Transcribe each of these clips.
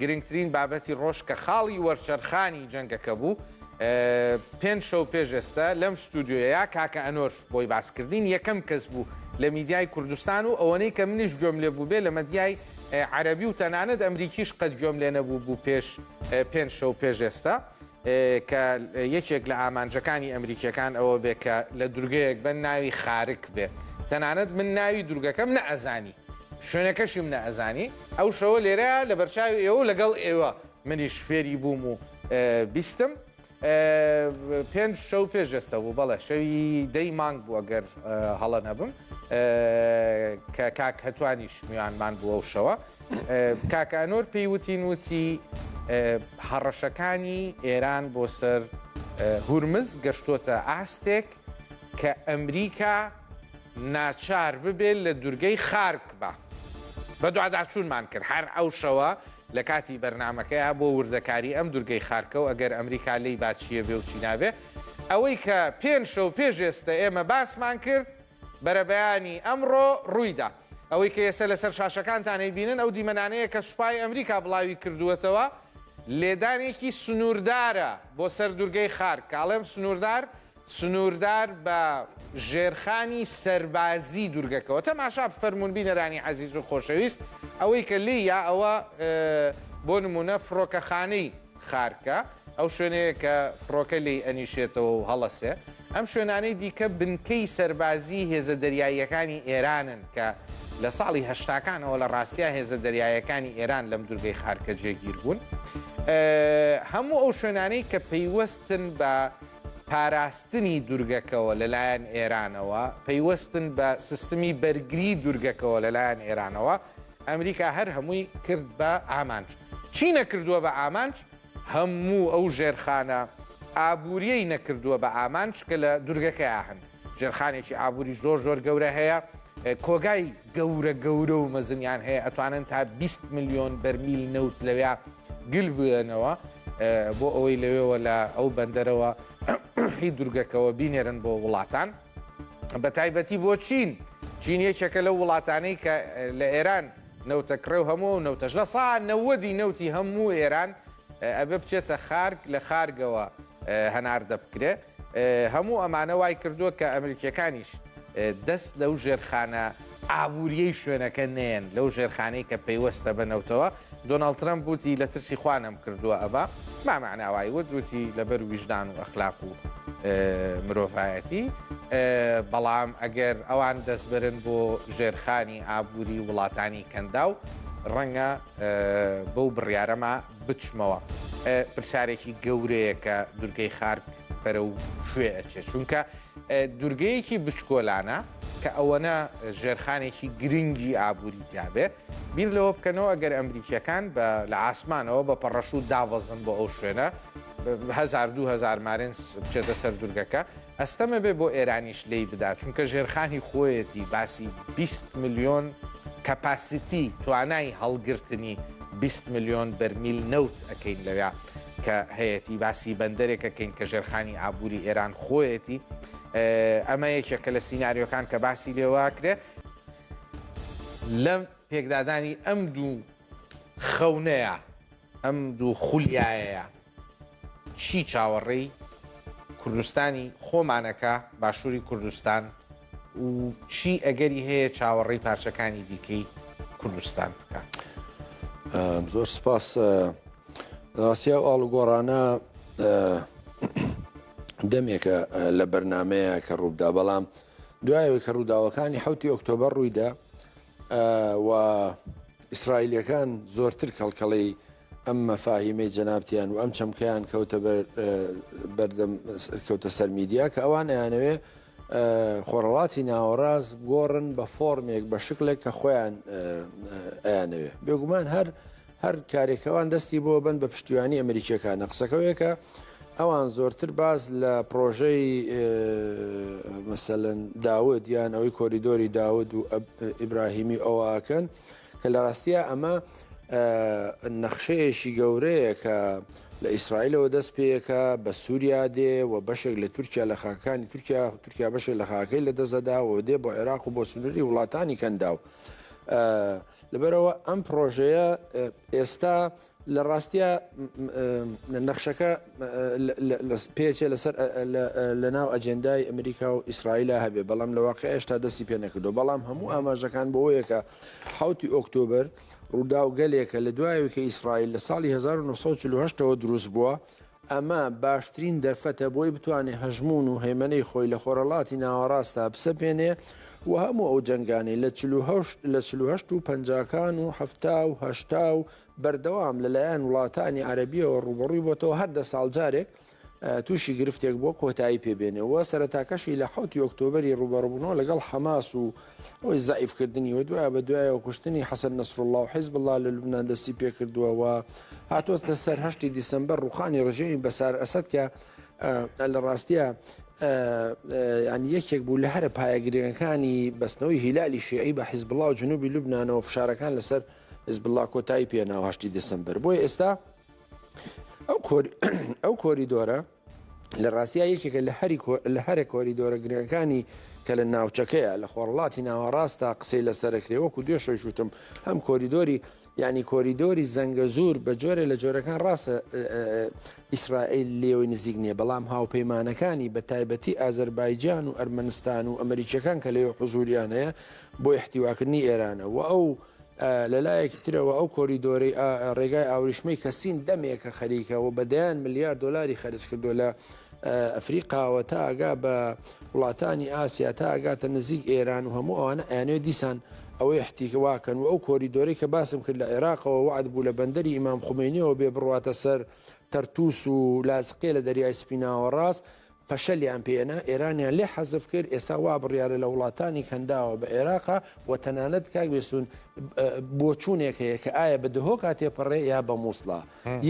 گرنگترین بابەتی ڕۆژ کە خاڵی وەرچەرخانی جەنگەکە بوو پێنج شەو پێش ئێستا لەم ستودیۆیە کاکە ئەنۆر بۆی باسکردین یەکەم کەس بوو لە میدیای کوردستان و ئەوەنەی کە منیش گوێم لێ بوو بێ لە مەدیای عەربی و تەنانەت ئەمریکیش قەت گوێم لێ نەبوو بوو پێش پێنج شەو پێش ئێستا کە یەکێک لە ئامانجەکانی ئەمریکیەکان ئەوە بێ کە لە دورگەیەک بە ناوی خارک بێ تەنانەت من ناوی دورگەکەم نە ئەزانی شوێنەکەشیم نە ئەزانی ئەو شەوە لێرە لە بەرچاوی ئێوە لەگەڵ ئێوە منیش فێری بووم و بیستم پێنج شەو پێ جەستە بوو بەڵێ شەوی دەی مانگ بوو ئەگەر هەڵە نەبم کە کاک هەتوانیش میوانمان بووە و شەوە کاک ئانۆر پێی وتین وتی هەڕەشەکانی ئێران بۆ سەر هورمز گەشتۆتە ئاستێک کە ئەمریکا ناچار ببێت لە دورگەی خارک بە بە دوعاداچوونمان کرد هەر ئەو شەوە لە کاتی بەرنمەکەیە بۆ وردەکاری ئەم دورگەی خارکە و ئەگەر ئەمریکا لی باچیە بێ و چیناوێ ئەوەی کە پێنج شەو پێش ئێستا ئێمە باسمان کرد بەرەبەیانی ئەمڕۆ ڕوویدا. ئەوەی کە ئێسە لەسەر شاشەکانتان ئەیبینن ئەو دیمەنانەیە کە سوپای ئەمریکا بڵاوی کردووەتەوە، لێدانێکی سنووردارە بۆ سەر دوورگەی خارک، کە ئەڵێم سنووردار، سنووردار بە ژێرخانی سەربازی دوورگەکەوە. تەماشا بفەرموون بینەرانی عەزیز و خۆشەویست، ئەوەی کە لێیا ئەوە بۆ نموونە فڕۆکەخانەی. خارکە، ئەو شوێنەیە کە فڕۆکە لێی ئەنیشێتەوە و هەڵەسێ. ئەم شوێنانەی دیکە بنکەی سەربازیی هێزە دەریاییەکانی ئێرانن کە لە ساڵی هەشتاکانەوە لە ڕاستیا هێزە دەریاییەکانی ئێران لەم دوورگەی خارکە جێگیر بوون. هەموو ئەو شوێنانەی کە پەیوەستن بە پاراستنی دوورگەکەوە لەلایەن ئێرانەوە، پەیوەستن بە سیستمی بەرگری دوورگەکەوە لەلایەن ئێرانەوە، ئەمریکا هەر هەمووی کرد بە ئامانج. چی نەکردووە بە ئامانج؟ هەموو ئەو ژێرخانە ئابوورییەی نەکردووە بە ئامانج کە لە دوورگەکەیا هەن. ژێرخانێکی ئابووری زۆر زۆر گەورە هەیە، کۆگای گەورە گەورە و مەزنیان هەیە، ئەتوانن تا بیست ملیۆن بەرمیل نەوت لەوێیا گل بوێنەوە بۆ ئەوەی لەوێوە لە ئەو بەندەرەوە هی دوورگەکەوە بینێرن بۆ وڵاتان. بە تایبەتی بۆ چین چین یەکێکە لەو وڵاتانەی کە لە ئێران نەوتە کڕێ و هەموو نەوتەش لە سا نەوەدی نەوتی هەموو ئێران ئەبێ بچێتە خارک لە خارگەوە هەناردە بکرێ هەموو ئەمانە وای کردووە کە ئەمریکیەکانیش دەست لەو ژێرخانە ئابووریی شوێنەکە نەیەن لەو ژێرخانەی کە پەیوەستە بە نەوتەوە، دۆناڵد ترەمپ وتی لە ترسی خوا نەمکردووە ئەبا، ما معناه وای وت وتی لەبەر ویژدان و ئەخلاق و مرۆڤایەتی، بەڵام ئەگەر ئەوان دەستبەرن بۆ ژێرخانی ئابووری وڵاتانی کەنداو، ڕەنگە بەو بڕیارەما بچمەوە. پرسیارێکی گەورەیە کە دورگەی خارک بەرەو کوێ ئەچێت، چونکە دوورگەیەکی بچکۆلانە کە ئەوەنە ژێرخانێکی گرنگی ئابووری تیاابێ بیر لەوە بکەنەوە ئەگەر ئەمریکیەکان بە لە ئاسمانەوە بە پەڕەشوو دابەزن بۆ ئەو شوێنە 2000 مارنس بچێتە سەر دوورگەکە ئەستەمە بێ بۆ ئێرانیش لی بدا چونکە ژێرخانی خۆیەتی باسی 20 میلیۆن کەپاسیتی توانای هەڵگرتنی 20 میلیۆن بەرمیل نەوت ئەکەین لەوێ کە هەیەتی باسی بەندەرێک ئەکەین کە ژێرخانی ئابووری ئێران خۆیەتی ئەمە یەکێکە لە سینناریۆکان کە باسی لێواکرێ لەم پێکدادانی ئەم دوو خەونەیە ئەم دوو خولیایەیە چی چاوەڕێی کوردستانی خۆمانەکە باشووری کوردستان و چی ئەگەری هەیە چاوەڕێی پارچەکانی دیکەی کوردستان بکات زۆر سپاس ڕاستیا و ئاڵوگۆڕانە دەمێکە لە بەرنمەیە کە ڕووبدا بەڵام دوایەوەی کە ڕووداوەکانی حوتی ئۆکتۆبەر ڕوویدا و ئیسرائیلەکان زۆرتر کەڵکەڵەی ئەم مەفاهیمەی جەنابتیان و ئەم چەمکەیان کەوتە بەر بەردەم کەوتە سەر میدیا کە ئەوان ئەیانەوێ خۆڕەڵاتی ناوەڕاست گۆڕن بە فۆرمێک بە شکلێک کە خۆیان ئەیانەوێ بێگومان هەر هەر کارێکەوان دەستی بۆ بن بە پشتیوانی ئەمریکیەکانە قسەکەوەیەکە ئەوان زۆرتر باز لە پرۆژەی مەسەن داود یان ئەوەی کۆریدۆری داود و ئیبراهیمی ئەوواکەن کە لە ڕاستیە ئەمە نەخشەیەشی گەورەیە کە لە ئیسرائیلەوە دەست پێیەکە بە سووریا دێ و بەشێک لە تورکیا لە خاکانی تورکیا تورکیا بەشێک لە خاکەی لە دەزەدا و دێ بۆ عێراق و بۆ سنووری وڵاتانی کەنداو. لەبەرەوە ئەم پرۆژەیە ئێستا لە ڕاستیا نەخشەکە پێچێ لەسەر لە ناو ئەجێندای ئەمریکا و ئیسرائیلا هەبێ بەڵام لە واقع هێشتا دەستی پێ نەکردو بەڵام هەموو ئاماژەکان بۆیەکە حوتی ئۆکتۆبر ڕووداو گەلێکە لە دوایەوە کە ئیسرائیل لە ساڵی 1940ەوە دروست بووە ئەمە باشترین دەرفەتە بۆی بتوانێت هەژموون و هەیمەنەی خۆی لە خۆرەڵاتی ناوەڕاستا بسەپێنێ و هەموو ئەو جەنگانەی لە لە چهشت و پەنجاکان و هەفتا و هەشتا و بەردەوام لەلایەن وڵاتانی عەربیەوە ڕوبەڕووی بۆتەوە هەر دە ساڵ جارێک تووشی گرفتێک بۆ کۆتایی پێبێنێ و سەرتاکەشی لە حوتی ئۆکتۆبری ڕوبەڕبوونەوە لەگەڵ حەماس و هۆی زەعیف کردنی و دوای بە دوایەوە کوشتنی حەسەن نەسرالله و حیزب الله لە لوبنان دەستی پێکردووە و هاتۆتە سەر هەشتی دیسمبر ڕوخانی ڕژێمی بەسار ئەسد کە لە ڕاستیە ینی یەکێک بوو لە هەرە پایە گرنگەکانی بەستنەوەی هیلالی شێعی بە حیزب الله و جنوبی لوبنانەوە فشارەکان لەسەر حیزب الله کۆتایی پێناوە هەشتی دیسمبر بۆی ئێستا ئەو کۆریدۆرە لە ڕاستیا یەکێکە لە هەری لە هەرە کۆریدۆرە گرنگەکانی کە لە ناوچەکەیە لە خۆرڵاتی ناوەڕاستە قسەی لەسەرکرێ وەکو دوێشەویش وتم هەم کۆریدۆری ینی کۆریدۆری زەنگە زۆر بە جۆرە لە جۆرەکان ڕاستە ئیسرائیل لێوەی نزیک نییە بەڵام هاوپەیمانەکانی بە تایبەتی ئازەربایجان و ئەرمەنستان و ئەمریکیەکان کە لەوێ حزوریان هەیە بۆ احتیواکردنی ئێرانە و ئەو لە لایەکی ترەوە ئەو کۆریدۆرەی ئا ڕێگای ئاوریشمەی کە سین دەمێکە خەریکە و بە دەیان ملیار دۆلاری خەرج کردو لە ئەفریقاوە تا ئەگا بە وڵاتانی ئاسیا تا ئەگاتە نزیک ئێران و هەموو ئەوانە ئەیانەوێت دیسان ئەوەی حتیکە واکەن و ئەو کۆریدۆرەی کە باسم کرد لە عێراقەوە وعد بوو لە بەندەری ئیمام خومەینیەوە بێ بڕواتە سەر تەرتوس و لاسقیە لە دەریای سپی ناوەڕاست پەشەلیان پێنا ئێرانیان لێ حەزف کرد ئێسا وا بڕیارە لە وڵاتانی کەنداوە بە ئێراقا و تەنانەت کاک بێسوون بۆچوونێک هەیە کە ئایا بە دهۆکا تێپەڕێ یا بە مووسڵا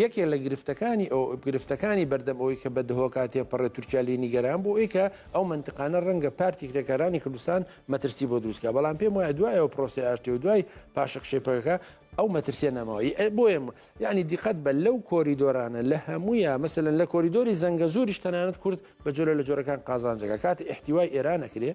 یەکێ لە گرفتەکانی ئەو گرفتەکانی بەردەم ئەوی کە بە دهۆکا تێپەڕێ تورکیا لی نیگەران بۆ ئەوی کە ئەو منتقانە ڕەنگە پارتی کرێکارانی کوردستان مەترسی بۆ دروستکە بەڵام پێم وایە دوایەوە پرۆسی ئاشتی و دوای پاشەکشەی پەکەکە ئەو مەترسیە نەماوە بۆیە یەعنی دیقەت بە لەو کۆریدۆرانە لە هەموویە مەسەن لە کۆریدۆری زەنگەزوریش تەنانەت کورد بە جۆرە لە جۆرەکان قازانجەکە کات احتیوای ئێران نەکرێ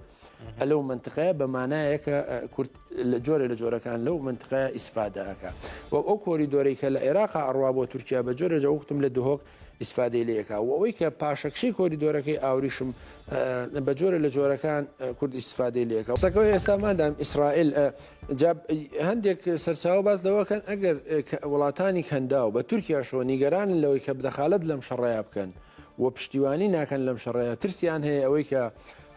لەو منتقەیە بە مانایە کە کورد لە جۆرە لە جۆرەکان لەو منتقە ئیسفادەکە و ئەو کۆریدۆری کە لە عێراق ئەڕوا بۆ تورکیا بە جۆرە جەوتم لە دهۆک ئیسفادەی لێ ئەکا و ئەوەی کە پاشەکشەی کۆریدۆرەکەی ئاوریشم بە جۆرە لە جۆرەکان کورد ئیسفادەی لێ ئەکا قسەکە ئێستا مادام ئیسرائیل ئە، جا هەندێک سەرچاوە باس لەوە کەن ئەگەر کە وڵاتانی کەنداو بە تورکیاشەوە نیگەرانن لەوەی کە دەخالەت لەم شەڕەیا بکەن و پشتیوانی ناکەن لەم شەڕەیە ترسیان هەیە ئەوەی کە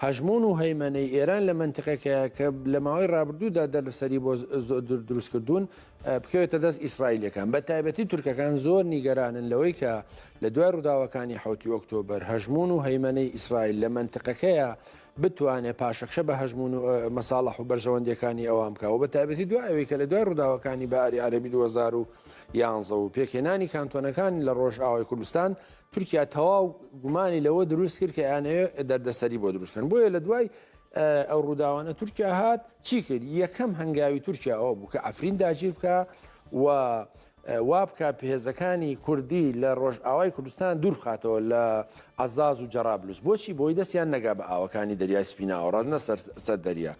هەژموون و هەیمەنەی ئێران لە مەنتقەکەیە کە لە ماوەی ڕابردوودا دەرلەسەری بۆ زۆ دروست کردوون بکەوێتە دەست ئیسرائیلیەکان بە تایبەتی تورکەکان زۆر نیگەرانن لەوەی کە لە دوای ڕووداوەکانی حوتی ئۆکتۆبەر هەژمون و هەیمەەی ئیسرائیل لە منتقەکەیە بتوانێت پاشەکشە بە هەژمون و مەساڵح و بەرژەوەندەکانی ئەوان بکەوە بە تایبەتی دوای ئەوەی کە لە دوای ڕووداوەکانی باری عەربی 2011 و پێکهێنانی کانتۆنەکان لە ڕۆژ ئاوای کوردستان تورکیا تەواو گومانی لەوە دروست کرد کە یانەیە دەردەسەری بۆ دروستکەن بۆیە لە دوای ئەو ڕووداوانە تورکیا هات چی کرد یەکەم هەنگاوی تورکیا ئەوە بوو کە ئەفرین داگیر بکە و وابکە پێهێزەکانی کوردی لە ڕۆژ ئاوای کوردستان دوورخاتەوە لە عزاز و جەرابلوس بۆچی بۆی دەستیان نەگا بە ئاوەکانی دەریای سپیناوە ڕاز نەسەر سەر دەریا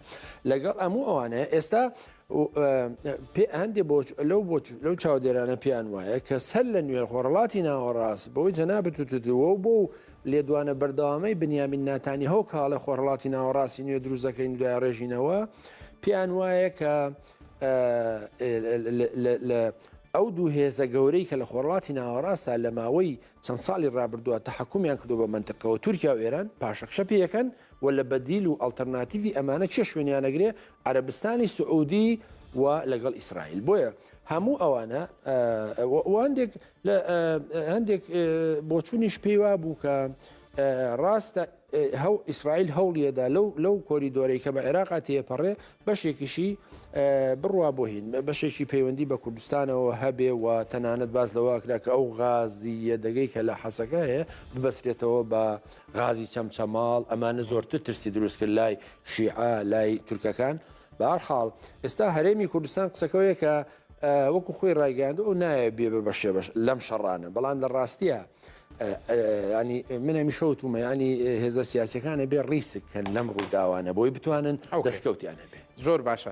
لەگەڵ ئەموو ئەوانەیە ئێستا هەندێک بۆچ لەو بۆچ لەو چاودێرانە پێیان وایە کە سەر لە نوێ خۆڕڵاتی ناوەڕاست بەوەی جەنابەت و تدووە و بۆ و لێدوانە بەردەوامەی بنیامین ناتانی هەو کاڵە خۆڕڵاتی ناوەڕاستی نوێ دروزەکەین دوای ڕێژینەوە پێیان وایە کە ئەو دوو هێزە گەورەی کە لە خۆڕڵاتی ناوەڕاستە لە ماوەی چەند ساڵی ڕابردووە تە حکومیان کردو بە منتەکەەوە تورکیا و ئێران پاشەکشە پێیەکەن و لە بەدیل و ئەلتەرناتیوی ئەمانە چێ شوێنیانەگرێ عەرەبستانی سعودی و لەگەڵ ئیسرائیل بۆیە هەموو ئەوانە هەندێک هەندێک بۆچوونیش پێیوا بوو کە ڕاستە هەو ئیسرائیل هەوڵیەدا لەو لەو کۆریدۆرەی کە بە عێراقا تێپەڕێ بەشێکیشی بڕوا بۆ هین بەشێکی پەیوەندی بە کوردستانەوە هەبێ و تەنانەت باز لەواکرا کە ئەو غازی یەدەگەی کە لە حەسەکە هەیە ببەسرێتەوە بە غازی چەمچەماڵ ئەمانە زۆرتر ترسی دروست کرد لای شیعە لای تورکەکان بار حاڵ ئێستا هەرێمی کوردستان قسەکەوەیە کە وەکو خۆی ڕایگەاند و نایە بێ بە بەشێ بەش لەم شەڕانە بەڵام لە ڕاستیە ینی منە میشەوتومە ینی هێزە سیاسەکانە بێ ڕیسککەن لەم ڕووداوانە بۆی بتوانن دەستکەوتیان هەبێ زۆر باشە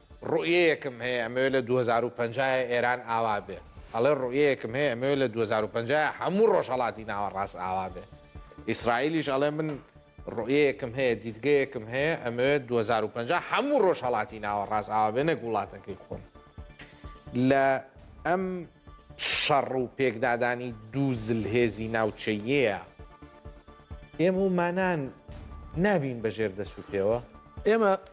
ڕوئیەیەکم هەیە ئەمەوێ لە دوو هەزار و پەنجا ئێران ئاوا بێ ئەڵێ ڕوئیەیەکم هەیە ئەمەوێ لە دوو هەزار و پەنجا هەموو ڕۆژهەڵاتی ناوەڕاست ئاوا بێ ئیسرائیلیش ئەڵێ من ڕوئیەیەکم هەیە دیدگەیەکم هەیە ئەمەوێ دوو هەزار و پەنجا هەموو ڕۆژهەڵاتی ناوەڕاست ئاوا بێ نەک وڵاتەکەی خۆم لە ئەم شەڕ و پێکدادانی دوو زلهێزی ناوچەیەیە ئێمە و مانان نابین بەژێر دەسوپێوە ئێمە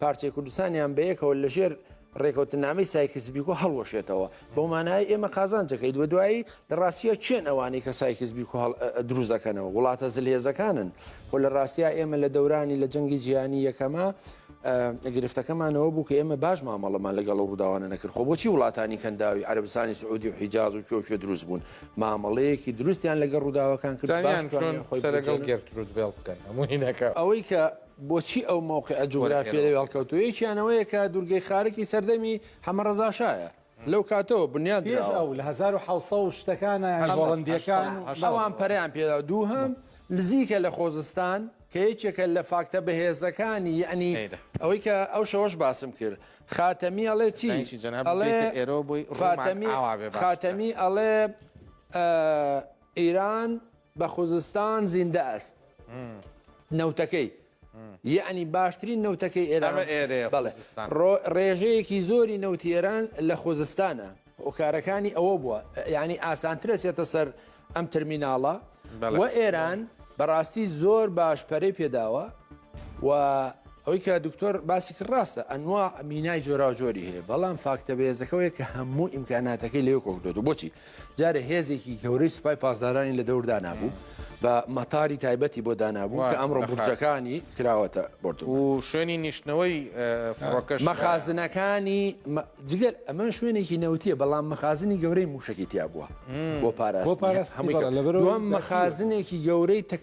پارچەی کوردستانیان بەیەکەوە لەژێر ڕێکەوتنامەی سایکس بیکۆ هەڵوەشێتەوە بەو مانای ئێمە قازانجەکەی دووە دوایی لە ڕاستیە چێن ئەوانەی کە سایکس بیکۆ دروزەکەنەوە وڵاتە زلهێزەکانن خۆ لە ڕاستیا ئێمە لە دەورانی لە جەنگی جیهانی یەکەمە گرفتەکەمانەوە بوو کە ئێمە باش مامەڵەمان لەگەڵ ڕووداوانە نەکرد خۆ بۆچی وڵاتانی کەنداوی عربستانی سعودی و حیجاز و کۆکێ دروست بوون مامەڵەیەکی دروستیان لەگەڵ ڕووداوەکان کرد لەگەڵ گرتروود بێڵ بکەن هەموو هینەکە ئەوەی کە بۆچی ئەو مەوقیعە جوگرافییەی هەڵکەوتووە؟ یەکیان ئەوەیە کە دوورگەی خارەکی سەردەمی حەمەڕەزا شایە، لەو کاتەوە بنیات دراوە. پێش ئەو لە هەزار و حەوت سەد و شتەکانە یان گۆڵەندییەکان و. ئەوان پەرەیان پێ داوە. دووهەم، نزیکە لە خۆزستان، کە یەکێکە لە فاکتە بەهێزەکانی، یەعنی ئەوەی کە ئەو شەوەش باسم کرد. خاتەمی ئەڵێ چی؟ ئەڵێ، فاتەمی، خاتەمی ئەڵێ، ئێران بە خوزستان زیندە ئەست نەوتەکەی یعنی باشترین نەوتەکەی ئێران ڕێژەیەکی زۆری نەوتی ئێران لە خوزستانە هۆکارەکانی ئەوە بووە ینی ئاسانترە چێتە سەر ئەم تەرمیناڵە و ئێران بەڕاستی زۆر باش پەرەی پێداوە و ئەوی کە دکتۆر باسی کرد ڕاستە ئەنوا مینای جۆراوجۆری هەیە بەڵام فاکتە بێزەکەوەیە کە هەموو ئیمکاناتەکەی لێو کۆکدۆ بۆچی جارێ هێزێکی گەورەی سوپای پاسدارانی لە دەور دانابوو بە مەتاری تایبەتی بۆ دانابوو کە ئەمڕۆ بورجەکانی کراوەتە بۆرد و شوێنی نیشتنەوەی فڕۆکەش مەخازنەکانی جگەل ئەمە شوێنێکی نەوتیە بەڵام مەخازنی گەورەی موشکی تیا بووە بۆ پاراست هەموو لەبەر مەخازنێکی گەورەی تەک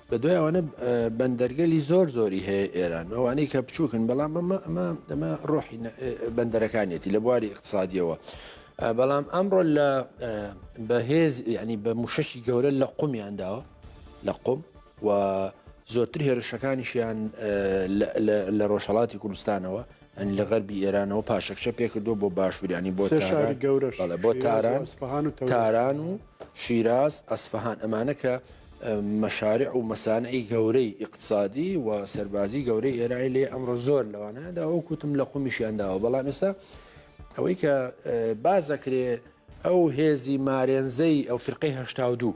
بەدوای ئەوانە بەندەرگەلی زۆر زۆری هەیە ئێران ئەوانەی کە بچووکن بەڵام ئەمە ئەمە ئەمە ڕۆحی بەندەرەکانیەتی لە بواری اقتصادیەوە بەڵام ئەمڕۆ لە بەهێز ینی بە موشەکی گەورە لە قومیان داوە لە قوم و زۆرتر هێرشەکانیشیان لە ڕۆژهڵاتی کوردستانەوە یانی لە غەربی ئێرانەوە پاشەکشە پێکردووە بۆ باشوور یانی بۆ سێ شاری تاران گەورەش بەڵێ بۆ شیراز و تاران ئەسفەهان و تەوریز. تاران و شیراز ئەسفەهان ئەمانە کە اه، مەشارع و مەسانعی گەورەی ئیقتسادی و سەربازی گەورەی ئێرانی لێ ئەمڕۆ زۆر لەوانەیەدا وەک وتم لە قومیشیان داوە بەڵام ئێستا ئەوەی کە اه، باس دەکرێ ئەو هێزی مارێنزەی ئەو فرقەی هەشتا و دوو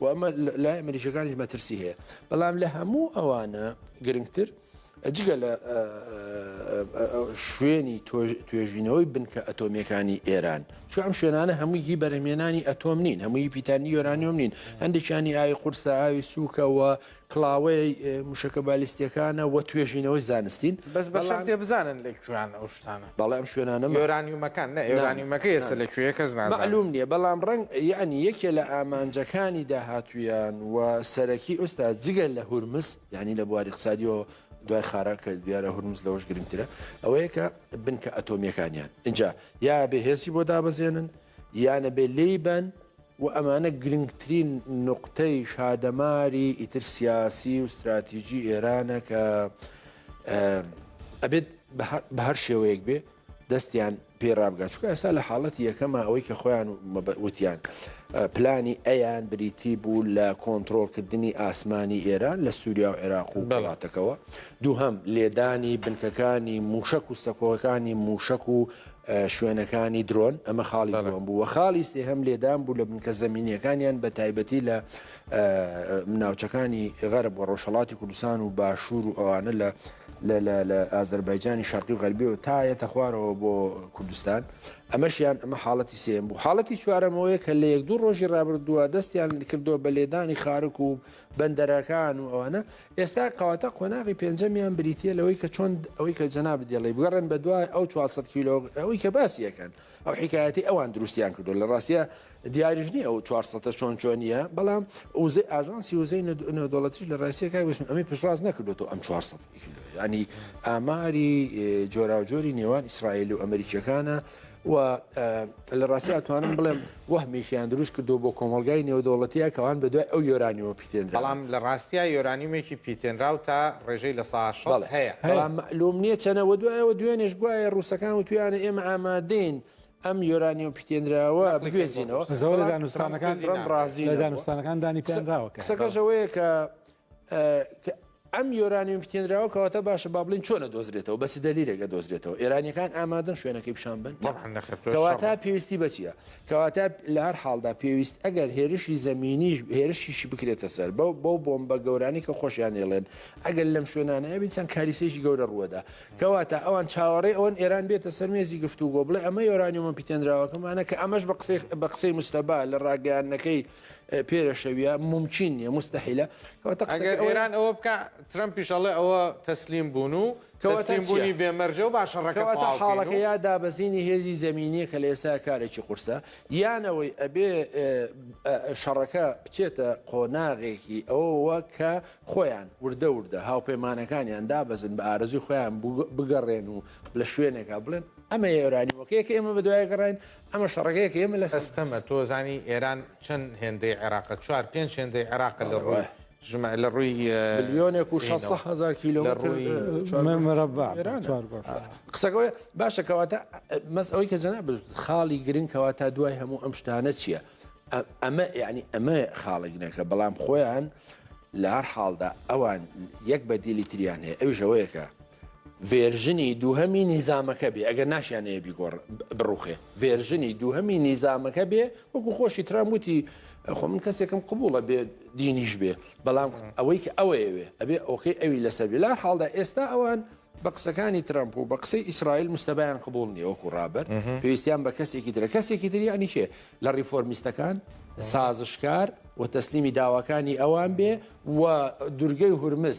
و ئەمە لای ئەمریکیەکانیش مەترسی هەیە بەڵام لە هەموو ئەوانە گرنگتر جگە لە شوێنی توێژینەوەی بنکە ئەتۆمیەکانی ئێران چ ئەم شوێنانە هەمووی هی بەرهمێنانی ئەتۆم نین هەمووی پیتانی یۆرانیۆم نین هەندێکیانی ئاوی قورسە ئاوی سوکەوە کڵاوەی موشەکە بالیستیەکانە وە توێژینەوەی زانستین. بەس بە شەرتێ بزانن لە کوێن ئەو شتانە. بەڵێ ئەم شوێنانە مە. یۆرانیومەکان نە یۆرانیومەکە ئێستا لە کوێیە کەس نازانێ. مەعلوم نیە بەڵام ڕەنگ یەعنی یەکێ لە ئامانجەکانی داهاتوویان و سەرەکی ئوستاز جگە لە هورمز یەعنی لە بواری ئقسادیەوە دوای خارە کە دیارە هورمز لەوەش گرنگترە ئەوەیە کە بنکە ئەتۆمیەکانیان ئینجا یا بێ هێزی بۆ دابەزێنن یانە بێ لێی بەن و ئەمانە گرنگترین نوقتەی شادەماری ئیتر سیاسی و ستراتیجی ئێرانە کە ئەبێت بە هەر شێوەیەک بێ دەستیان پێ ڕابگا چکە ئەسا لە حاڵەتی یەکەمە ئەوەی کە خۆیان وتیان پلانی ئەیان بریتی بوو لە کۆنتترۆلکردنی ئاسمانی ئێران لە سووریا و عێراق و بەڵاتەکەەوە دووهم لێدانی بنکەکانی موشک و سەکۆەکانی موشک و شوێنەکانی درۆن، ئەمە خاڵی دووەم بوو و خاڵی سێهەم لێدان بوو لە بنکە زەمینیەکانیان بە تایبەتی لە ناوچەکانی غەرب و ڕۆژهڵاتی کوردستان و باشوور و ئەوانە لە لە ئازەربایجانی شەرقی و غەربی و تایەتە خوارەوە بۆ کوردستان ئەمەشیان ئەمە حاڵەتی سێم بوو حاڵەتی چوارەمەوەی کە لە یەک دوو ڕۆژی ڕابردووە دەستیان کردو بە لێدانی خارک و بەندەرەکان و ئەوانە ئێستا کەواتە قۆناغی پێنجەمیان بریتییە لەوەی کە چۆن ئەوەی کە جەنابت دەڵێی بگەڕێن بە دوای ئەو 400 کیلۆ ئەوەی کە باسی یەکەن ئەو حکایەتی ئەوان دروستیان کردو لە ڕاستە دیاریش نیە ئەو 400 چۆن چۆنیە بەڵام وزەی ئاژانسی وزەی نێودوڵەتیش لە ڕاستە کای بسم ئەمی پشتڕاست نەکردو ئەم 400 کیلۆ ینی ئاماری جۆراوجۆری نێوان ئیسرائیل و ئەمریکیەکانە و لە ڕاستی ئەتوانم بڵێم وەهمێکیان دروست کردو بۆ کۆمەلگای نێودەوڵەتیە کەوان بە دوای ئەو یۆرانیوە پیتێن بەڵام لە ڕاستیا یۆرانیومێکی پیتێنراو تا ڕێژەی لە سا هەیە بەڵام لۆم نییە چەنەوە دوایەوە دوێنێش گوایە ڕووسەکان و تویانە ئێمە ئامادەین ئەم یۆرانیۆم پیتێنراوە بگوێزینەوە زەوە لە دانوستانەکان ڕم ڕازی لە دانوستانەکان دانی پێنراوە کەسەکەشەوەیە کە ئەم یۆرانیوم پتێنراوە کەواتە باشە با بڵین چۆنە دۆزرێتەوە بەسی دەلیرێکە دۆزرێتەوە ئێرانیەکان ئامادەن شوێنەکەی پیشان بن کەواتە پێویستی بەچیە کەواتە لە هەر حاڵدا پێویست ئەگەر هێرشی زمینیش هێرشیشی بکرێتە سەر بەو بەو بۆم بە گەورانی کە خۆشیان ێڵێن ئەگەر لەم شوێنانەیە بیسان کاریسێکی گەورە ڕووەدا کەواتە ئەوان چاوەڕێ ئەوەن ئێران بێتە سەر مێزی گفتوگۆ بڵێ ئەمە یۆرانیومە پیتێنراوەکەمانە کە ئەمەش بە قسەی بە قسەی مستەبا لە ڕاگەیانەکەی پێرەشەویە ممکن نیە مستحیلە کەواتە قسەکە ئەگەر ئەوەیە- ئێران ئەوە بکە ترەمپ پیشەڵێ ئەوە تەسلیم بوون و کەواتە تەسلیم بوونی چییە؟ بێمەرجە و باشە ڕەکە کەواتە بڵاو حاڵەکە بکەین و یا دابەزینی هێزی زمینیە کە لە ئێستا کارێکی قورسە یانەوەی ئەبێ ئە، ئە، شەڕەکە بچێتە قۆناغێکی ئەوەوە کە خۆیان وردە وردە هاوپەیمانەکانیان دابەزن بە ئارەزوی خۆیان بگە- بگەڕێن و لە شوێنێکا بڵێن ئەمە ئێرانیەکەیە کە ئێمە بە دوای گەڕاین ئەمە شەڕەکەیە کە ئێمە لە ئەستەمە تۆ زانی ئێران چەند هێندەی عێراقە چوار پێنج هێندەی عێراقە لە ڕۆی ژمە لە ڕووی ملیۆنێک و 600 هزار کیلۆمەتر قسەکەی باشە کەواتە مەس ئەوەی کە جەنا خاڵی گرنگ کەواتە دوای هەموو ئەم شتانە چییە؟ ئەمە یعنی ئەمە خاڵێکنەکە بەڵام خۆیان لە هەر حاڵدا ئەوان یەک بە دیلی تریان هەیە ئەویش ئەوەیەکە ڤێرژنی دووهەمی نیزامەکە بێ ئەگەر ناشیانەیە بیگۆڕ بڕوخێ ڤێرژنی دووهەمی نیزامەکە بێ وەکو خۆشی ترام وتی خۆ من کەسێکم قبوڵە بێ دینیش بێ بەڵام ئەوەی کە ئەوەیەوێ ئەبێ ئۆکەی ئەوی لەسەر بێ لار حاڵدا ئێستا ئەوان بە قسەکانی ترامپ و بە قسەی ئیسرائیل مستەبایان قبول نیە وەکو ڕابەر پێویستیان بە کەسێکی ترە کەسێکی تری ئەنی چێ لە ڕیفۆرمیستەکان سازشکار و تەسلیمی داواکانی ئەوان بێ و دورگەی هورمز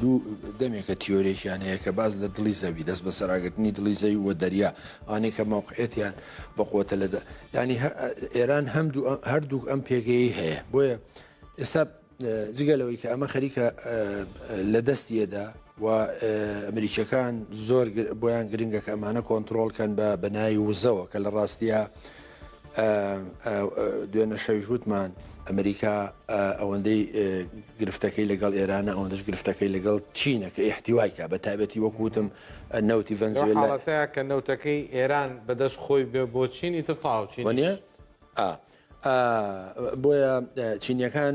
دوو دەمێکە تیۆرێکیان هەیە کە باز لە دڵی زەوی دەست بە سەراگرتنی دڵی زەوی وە دەریا ئانی کە مەوقعێتیان بە قوتە لە ینی ئێران هەم هەردوو ئەم پێگەی هەیە بۆیە ئێستا جگە لەوەی کە ئەمە خەریکە لە دەستیەدا و ئەمریکیەکان زۆر بۆیان گرنگە کە ئەمانە کۆنتترۆلکەن بە بەنای وزەوە کە لە ڕاستیە دوێنە شەویش وتمان ئەمریکا ئەوەندەی گرفتەکەی لەگەڵ ئێرانە ئەوەندەش گرفتەکەی لەگەڵ چینە کە ئیحتیوایکە بە تابەتی وەکوتم نەوتی ڤەنزوێلاتە کە نەوتەکەی ئێران بەدەست خۆی بێ بۆ چینی تر تاوچینە بۆیە چینیەکان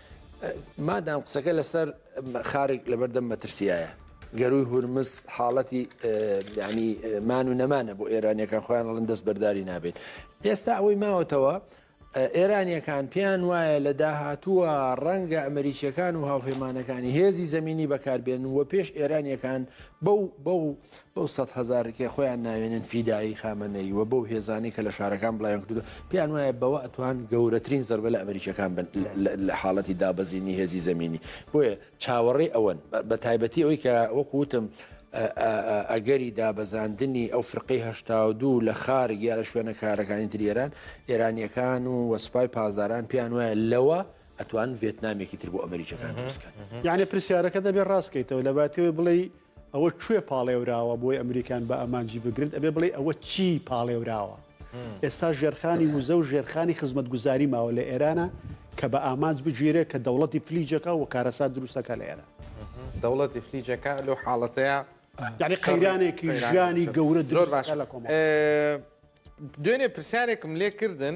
مادام قسەکە لەسەر خارک لەبەردەم مەترسیایە گەروی هورمز حاڵەتی ینی مان و نەمانە بۆ ئێرانیەکان خۆیان ڵن دەست بەرداری نابێت ئێستا ئەوەی ماوەتەوە ئێرانیەکان پێیان وایە لە داهاتووە ڕەنگە ئەمریکیەکان و هاوپەیمانەکانی هێزی زمینی بەکاربێن و پێش ئێرانیەکان بەو بەو بەو سەد هەزارەی کە خۆیان ناوێنن فیدایی خامەنەیی و بەو هێزانەی کە لە شارەکان بڵاویان کردووە، پێیان وایە بەوە ئەتوان گەورەترین زەربە لە ئەمریکییەکان بن لە حاڵەتی دابەزینی هێزی زەمینی. بۆیە چاوەڕێی ئەوەن، بە تایبەتی ئەوەی کە وەکو وتم ئەگەری دابەزاندنی ئەو فرقەی هەشتا و دوو لە خارگ یا لە شوێنە کارەکانی تری ئێران، ئێرانییەکان و و سوپای پاسداران پێیان وایە لەوە ئەتوان ڤێتنامێکی تر بۆ ئەمریکییەکان دروست بکەن. یەعنی پرسیارەکەت ئەبێ ڕاست کەیتەوە، لەباتیەوەی بڵێی ئەوە کوێ پاڵێوراوە بۆی ئەمریکان بە ئامانجی بگرت ئەبێ بڵێ ئەوە چی پاڵێوراوە ئێستا ژێرخانی وزە و ژێرخانی خزمەتگوزاری ماوە لە ئێرانە کە بە ئامانج بگیرێت کە دەوڵەتی فلیجەکە و کارەسات دروستەکە لە ئێرە دەوڵەتی فلیجەکە لەو حاڵەتەیە یعنی قەیرانێکی ژانی گەورە زۆر باش لە کۆم دوێنێ پرسیارێکم لێ کردن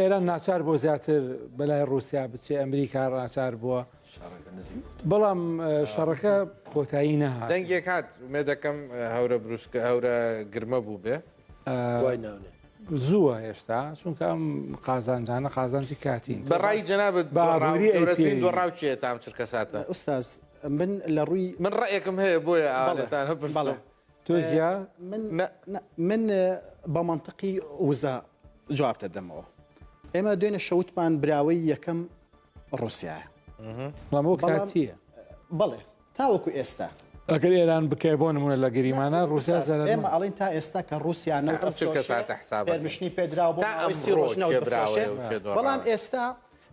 ئێران ناچار بۆ زیاتر بەلای ڕوسیا بچێ ئەمریکا ڕاچار بووە بەڵام شەڕەکە کۆتایی نەها دەنگێک هاات مێ دەکەم هەورە بروسکە هەورە گرمە بوو بێ زووە هێشتا چونکە ئەم قازانجانە قازانجی کاتین بەڕای جەنابەت باڕاوچێتام چرکە ساتە ئوستاز من لە ڕووی من ڕێکم هەیە بۆیە ئاڵێتان هەڵێ تۆزیا من بە منطقی وزە جواب دەدەمەوە ئێمە دوێنە شەوتمان براوەی یەکەم ڕوسایە بەڵەمەوە کاتیە بەڵێ تاوەکو ئێستا ئەگەر ئێران بکای بۆ نمونە لە گەریمانە رووسیا ئێمە ئەڵین تا ئێستا کە رووسیانە حسابشنی پێدراوە بەڵام ئێستا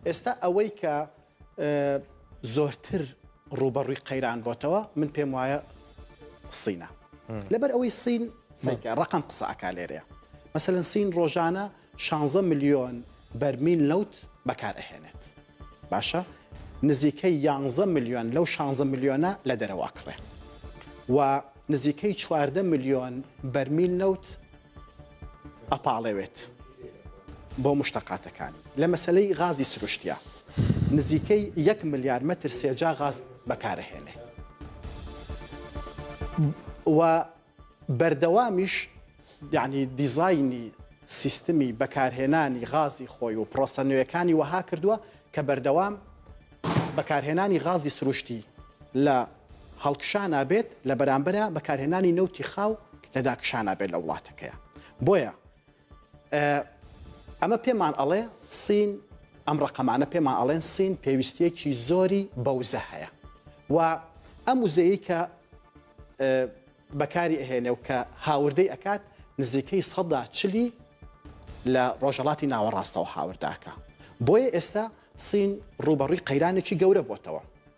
ئێستا ئەوەی کە زۆرتر ڕوبەڕوی قەیران بۆتەوە من پێم وایە سینە لەبەر ئەوەی سین ڕقم قسەکە لێرەیە مەسەن سین ڕۆژانە 16 میلیۆن بەرمین لەوت بەکار ئەهێنێت باشە نزیکەی 11 میلیۆن لەو 16 میلیۆنە لە دەرەواکڕێ و نزیکەی 14 میلیۆن بەرمیل نەوت ئەپاڵێوێت بۆ مشتەقاتەکانی لە مەسەلەی غازی سروشتیا نزیکەی یەک ملیار مەتر سێجا غاز بەکارەهێنێ و بەردەوامیش یعنی دیزایانی سیستمی بەکارهێنانی غازی خۆی و پرۆسە نوێەکانی وەها کردووە کە بەردەوام بەکارهێنانی غازی سروشتی لە هەڵکشا نابێت لە بەرامبەرا بەکارهێنانی نەوتی خاو لە داکشا نابێت لە وڵاتەکەیە بۆیە ئەمە پێمان ئەڵێ سین ئەم ڕقەمانە پێمان ئەڵێن سین پێویستیەکی زۆری بەوزە هەیە و ئەم وزەیە کە بەکاری ئەهێنێ و کە هاوردەی ئەکات نزیکەی سەدا چلی لە ڕۆژەڵاتی ناوەڕاستەوە هاورداکە بۆیە ئێستا سین ڕوبەڕووی قەیرانێکی گەورە بۆتەوە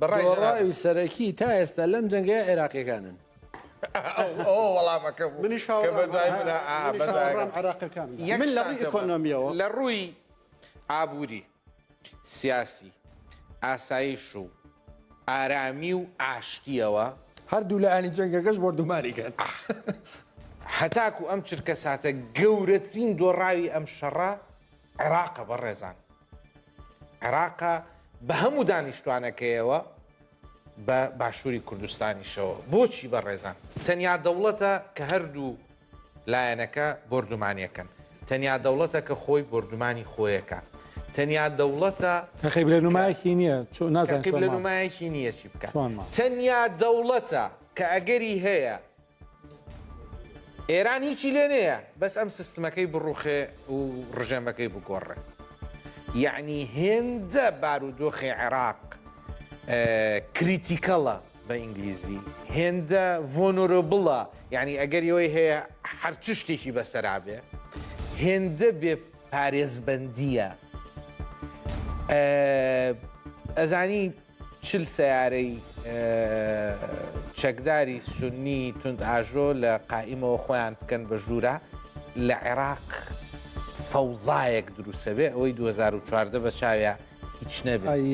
دۆڕاوی سەرەکی تا ئێستا لەم جەنگەیە عێراقیەکانن وەڵامەکە بوو لە ڕووی ئابووری سیاسی ئاسایش و ئارامی و ئاشتیەوە هەردوو لە ئەنی جەنگەکەش بۆردوماری کرد هەتاکو ئەم چرکە ساتە گەورەترین دۆڕاوی ئەم شەڕە عێراقە بەڕێزان عێراقە بە هەموو دانیشتوانەکەیەوە بە باشووری کوردستانیشەوە بۆچی بەڕێزان تەنیا دەوڵەتە کە هەردوو لایەنەکە بردومانیەکەن تەنیا دەوڵەتە کە خۆی بردومانی خۆیەکە تەنیا دەوڵەتە خەی لە نمایەکی نییە نازانکە لە نمایەکی نییە چی بکە تەنیا دەوڵەتە کە ئەگەری هەیە ئێران هیچی لێ نەیە بەس ئەم سستمەکەی بڕوخێ و ڕژێمەکەی بگۆڕێ یعنی هێندە بارودۆخی عێراق کریتیکەڵە بە ئینگلیزی هێندە ڤۆنۆرۆبڵە یعنی ئەگەر یەوەی هەیە هەر چ شتێکی بەسەرابێ هێندە بێ پارێزبندیە ئەزانی چل سەیارەی چەکداری سوننی توندئاژۆ لە قائیمەوە خۆیان بکەن بە ژوورە لە عێراق فەوزایەک دروسەبێ ئەوەی 2014 بە چاویا هیچ نەبێ.